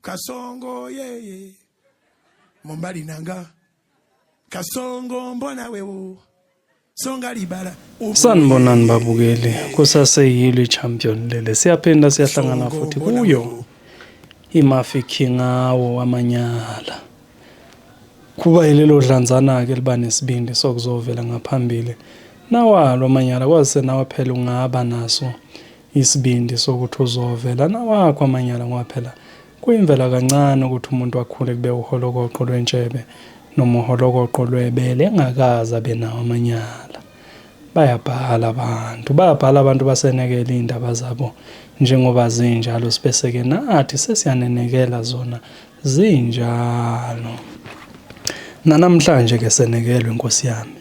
kasongo yeye mombali nanga kasongo mbona wewo songa libala sanibonani babukeli kusaseyilo i-champion lele siyaphinda siyahlangana futhi kuyo imafi khingawo wamanyala kuba yilelo dlanzana-ke liba nesibindi sokuzovela ngaphambili nawalo amanyala kwazise nawe phela ungaba naso Isibindi sokuthi uzovela nawakho amanyala ngoba phela kuyimvela kancane ukuthi umuntu akhule kube uholokoqo lwentshebe noma uholokoqo lwebele engakaze abe nawo amanyala. Bayabhala abantu, bayabhala abantu basenekela iy'ndaba zabo njengoba zinjalo sibese-ke nathi sesiyanenekela zona zinjalo. Nanamhlanje-ke senekelwe Nkosi yami.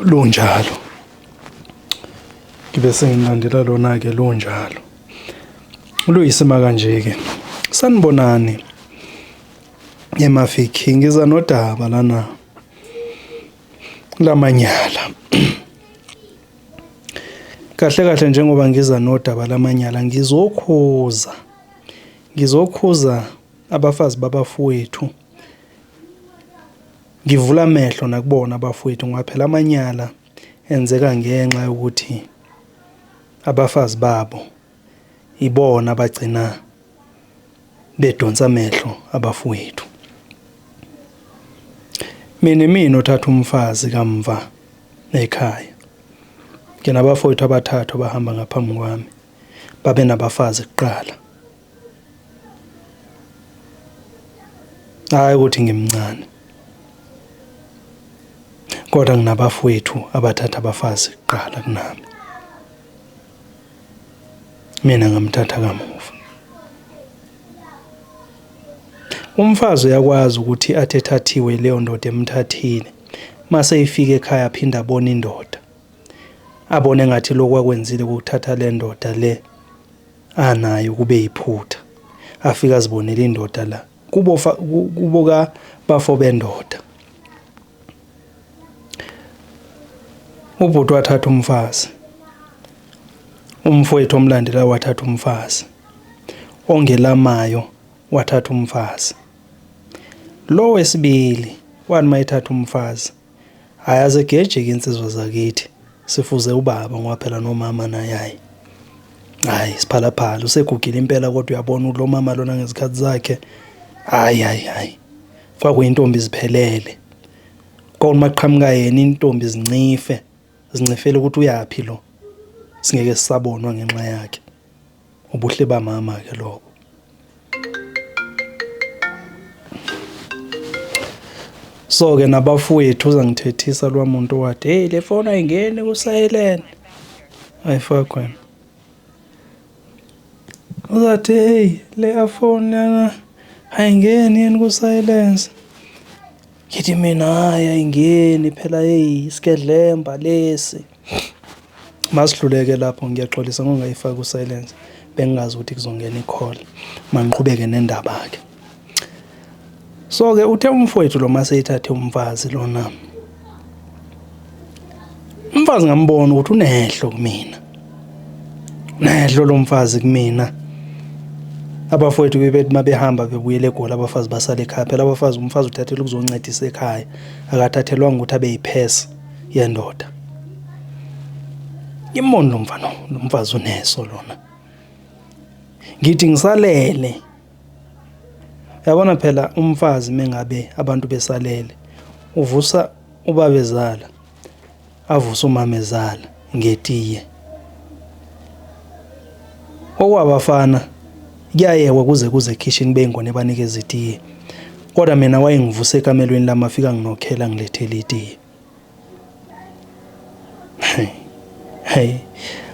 lunjalo ngibe sengilandela lona-ke lunjalo luyisima kanje-ke sanibonani emafiki ngiza nodaba lana lamanyala kahle kahle njengoba ngiza nodaba lamanyala ngizokhuza ngizokhuza abafazi babafowethu Ngivula amehlo nakubona abafowethu ngoba phela amanyala enzeka ngenxa yokuthi abafazi babo ibona abagcina bedonsa amehlo abafowethu. Mina mina othatha umfazi kamva ekhaya. Ngina abafowethu abathathu abahamba ngaphambi kwami babe nabafazi kuqala hayi ukuthi ngimncane kodwa nginabafowethu abathatha abafazi kuqala kunami mina ngamthatha kamuva umfazi uyakwazi ukuthi athethathiwe leyo ndoda emthathile mase ifika ekhaya phinda abone indoda abone ngathi lokwakwenzile ukuthatha le ndoda le anayo kube yiphutha afika azibonele indoda la kubo kubo ka bafo bendoda ubhuti wathatha umfazi umfowethu omlandela wathatha umfazi ongelamayo wathatha umfazi lo wesibili wani mayethatha umfazi Hayi azegejeke insizwa zakithi. Sifuze ubaba ngoba phela nomama naye hayi. Hayi siphalaphala usegugile impela kodwa uyabona ukuthi lo mama lona ngezikhathi zakhe hayi hayi hayi. Kwakuyintombi iziphelele. Kwakunoma kuqhamuka yena intombi zincife zincifele ukuthi uyaphi lo. Singeke sisabonwa ngenxa yakhe. ubuhle bamama ke lobo so ke nabafowethu uzangithethisa lwa muntu wathi hey le foni ayingeni ku silent ayifakwe wena uzathi hey le afoni lana ayingeni yini ku silence ngithi mina hayi ayingeni phela hey isigedlemba lesi Masihluleke lapho ngiyaxolisa ngokungayifaki ku silence bengingazi ukuthi kuzongena i-call. Mangiqhubeke nendaba-ke. So-ke uthe umfowethu lo maseyithathe umfazi lona. Umfazi ngambona ukuthi unehlo kumina. Nehlo lo mfazi kumina. Abafowethu bebethi mabehamba bebuyele eGoli abafazi basale ekhaya. Phela abafazi umfazi uthathelwa ukuzoncedisa ekhaya. Akathathelwanga ukuthi abe yiphesa. yendoda ngimoni lo mfana lo mfazi uneso lona ngithi ngisalele yabona phela umfazi mengabe abantu besalele uvusa ubabezala avuse umamezala ngetiye. Okwabafana kuyayekwa kuze kuze ekhishini beyingona ebanikeza itiye. Kodwa mina wayengivuse ekamelweni lami afika nginokhela ngilethele itiye. Hey. Hey.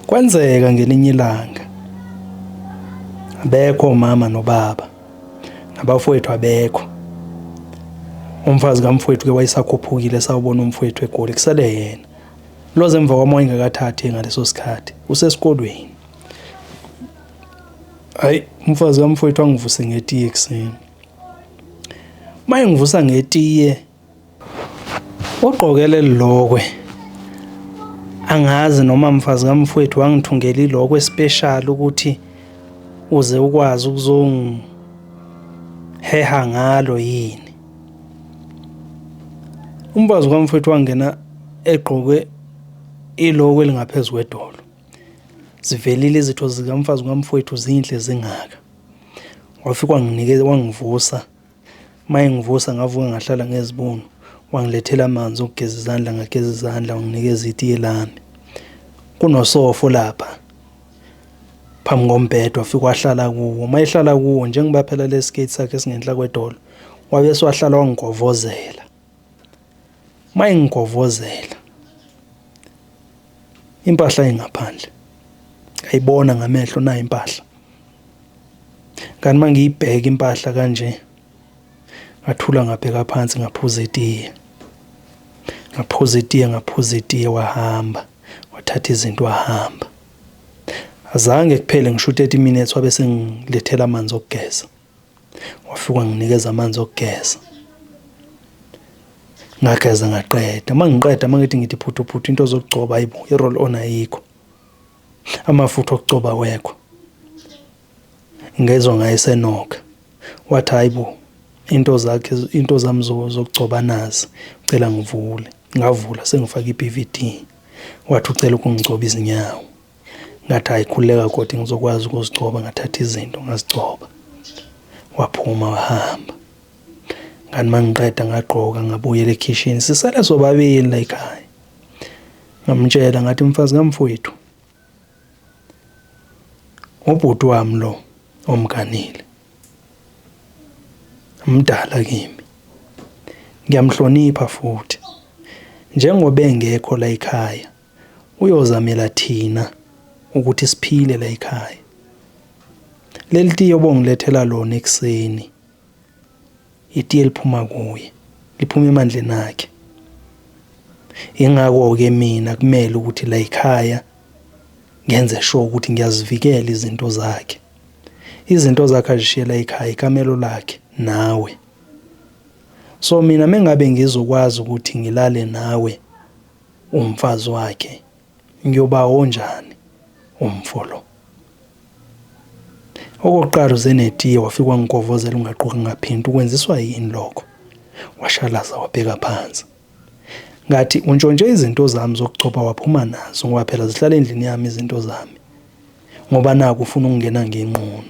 Kwenzeka ngelinye ilanga abekho mama nobaba nabafowethu abekho umfazi kamfowethu ke wayesakhuphukile sawubona umfowethu egoli kusele yena Loze emva kwamoya ingakathathi ngaleso sikhathi usesikolweni hayi umfazi kamfowethu angivuse ngetiye ekuseni uma engivusa ngetiye ugqokele lilokwe angazi noma mfazi kamfowethu wangithungela ilokwe special ukuthi uze ukwazi ukuzongiheha ngalo yini umfazi kamfowethu wangena egqoke iloko elingaphezu kwedolo zivelile izitho zikamfazi kamfowethu zinhle zingaka wafika wanginikeza wangivusa uma engivusa ngavuka ngahlala ngezibunu wangilethela amanzi okugeza izandla ngageza izandla wanginikeza itiye lami kunosofo lapha phambi kombhede wafike wahlala kuwo uma ehlala kuwo njengoba phela le skate sakhe singenhla kwedolo wabese wahlala wangigovozela uma engigovozela impahla ingaphandle ngayibona ngamehlo nayo impahla kanti uma ngiyibheka impahla kanje ngathula ngabheka phansi ngaphuza itiye ngaphuza itiye ngaphuza itiye wahamba wathatha izinto wahamba azange kuphele ngisho u-30 minutes wabe sengilethela amanzi okugeza wafika wanginikeza amanzi okugeza ngageza ngaqeda uma ngiqeda uma ngithi ngithi phuthuphuthu into zokugcoba ayibo i-roll on ayikho amafutha okugcoba wekho ngezwa ngayesenoka wathi hayibo into zakhe into zami zokugcoba nazi ucela ngivule ngavula sengifaka i-BVD wathi ucela ukungigcoba izinyawo ngathi hayi khuleka kodwa ngizokwazi ukuzigcoba ngathatha izinto ngazigcoba waphuma wahamba ngani mangiqeda ngagqoka ngabuyela ekhishini sisele sobabili la ekhaya ngamtshela ngathi mfazi kamfowethu ubhuti wami lo omganile mdala kimi ngiyamhlonipha futhi njengoba engekho la ekhaya uyozamela thina ukuthi siphile la ekhaya leli tiye obongilethela lona ekuseni itiye liphuma kuye liphuma emandleni akhe ingakho-ke mina kumele ukuthi la ekhaya ngenze sure ukuthi ngiyazivikela izinto zakhe izinto zakhe azishiyela ekhaya ikamelo lakhe nawe so mina mengabe ngizokwazi ukuthi ngilale nawe Umfazi wakhe ngiyoba onjani umfo lo. Okokuqala uze netiye wafika wangigovozela ungagqokanga phinti ukwenziswa yini lokho? Washalaza wabheka phansi. Ngathi untshontshe izinto zami zokugcoba waphuma nazo ngoba phela zihlala endlini yami izinto zami. Ngoba naku ufuna ukungena ngenqunu.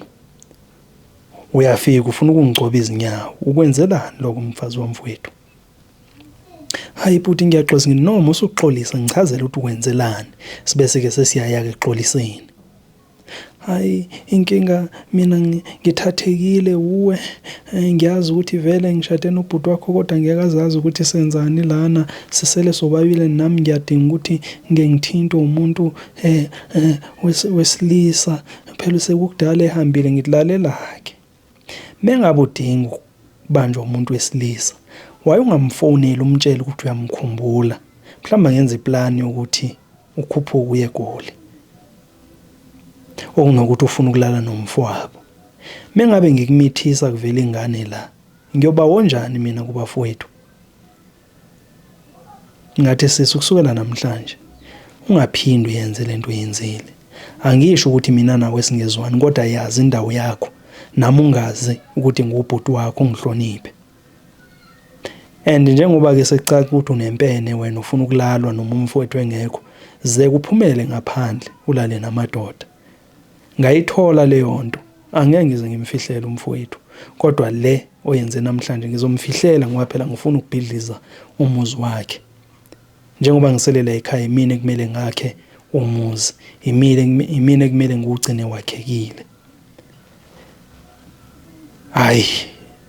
Uyafika ufuna ukungigcoba izinyawo. Ukwenzelani lokho mfazi wamfowethu? Hayi bhuti ngiyaxolisa ngithi noma usuxolisa ngichazela ukuthi wenzelani sibese ke sesiyaya ke xoliseni. Hayi inkinga mina ngithathekile uwe eh, ngiyazi ukuthi vele ngishade nobhuti wakho kodwa ngeke azazi ukuthi senzani lana sisele sobabile nami ngiyadinga ukuthi ngeke ngithintwe umuntu eh, eh wesilisa phela sekukudala ehambile ngikulalelake. Mengabe udinga ukubanjwa umuntu wesilisa, why ungamfoneli umtshele ukuthi uyamkhumbula? Mhlawumbe angenza iplan yokuthi ukhuphuke uye eGoli. Okunokuthi ufuna ukulala nomfowabo. Mengabe ngikumithisa kuvela ingane la, ngiyoba wonjani mina kubafowethu? Ngathi, Sisi, ukusukela namhlanje ungaphindi uyenze le nto oyenzile. Angisho ukuthi mina nawe singezwani, kodwa yazi indawo yakho nami ungazi ukuthi ngubhuti wakho ungihloniphe and njengoba ke sekucaca ukuthi unempene wena ufuna ukulalwa noma umfowethu engekho ze kuphumele ngaphandle ulale namadoda Ngayithola leyo nto, angeke ngize ngimfihlele umfowethu, kodwa le oyenze namhlanje ngizomfihlela ngoba phela ngifuna ukubhidliza umuzi wakhe. Njengoba ngisele la ekhaya imina ekumele ngakhe umuzi, imile imina ekumele ngiwugcine wakhekile. Hhayi,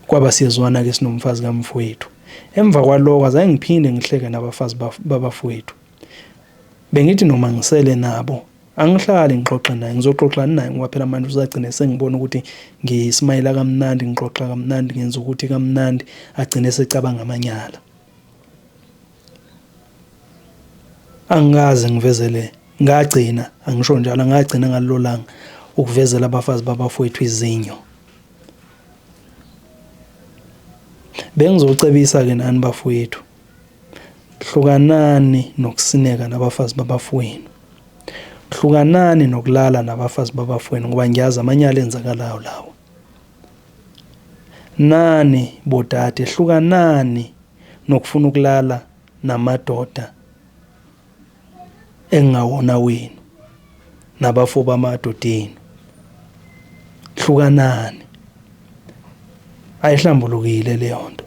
kwaba siyezwana-ke sinomfazi kamfowethu. Emva kwaloko azange ngiphinde ngihleke nabafazi babafowethu. Bengithi noma ngisele nabo Angihlali ngixoxe naye, ngizoxoxani naye ngoba phela manje uzagcine sengibona ukuthi ngismayela kamnandi, ngixoxa kamnandi, ngenza ukuthi kamnandi, agcine secabanga amanyala. Angikaze ngivezele, ngagcina, angisho njalo, ngagcina ngalelo langa ukuvezela abafazi babafowethu izinyo. Bengizocebisa-ke nani bafowethu, Hlukanani nokusineka nabafazi babafowenu. Hlukanani nokulala nabafazi babafowenu ngoba ngiyazi amanyala enzakalayo lawo. Nani bodade hlukanani nokufuna ukulala namadoda engingawona wenu nabafo bamadoda enu hlukanani ayihlambulukile leyo nto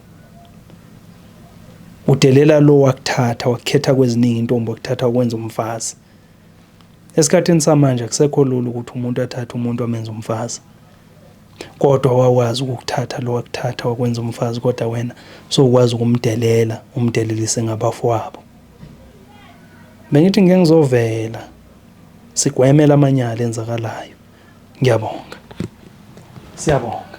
udelela lo wakuthatha wakukhetha kweziningi intombi wakuthatha ukwenza umfazi esikhathini samanje akusekho lula ukuthi umuntu athathe umuntu amenze umfazi kodwa wawazi ukukuthatha lo wakuthatha wakwenza umfazi kodwa wena so ukwazi ukumdelela umdelelise ngabafowabo Bengithi ngike ngizovela sigweme lamanyala enzakalayo. Ngiyabonga. Siyabonga.